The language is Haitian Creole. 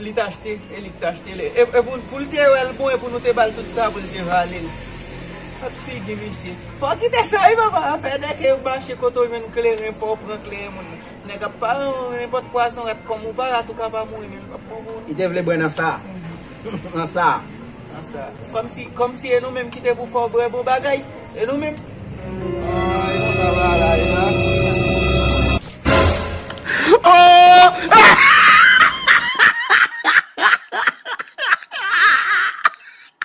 Li t achte e li t achte l. E pou l te wè l bon e pou nou te ba l tout sa pou l te vale l. Gad figi misye. Fò w kite sa wi papa. Afè nèg ke yo mache kote w jwenn kleren fò w pran kleren moun nan. Nèg ap pare w nenpòt pwazon rat kòm ou pa rat ou ka pa mouri men l pap bon pou ou non. Li te vle bwè nan sa? Nan sa? Komsi e nou menm kite pou fè w bwè bon bagay e nou menm.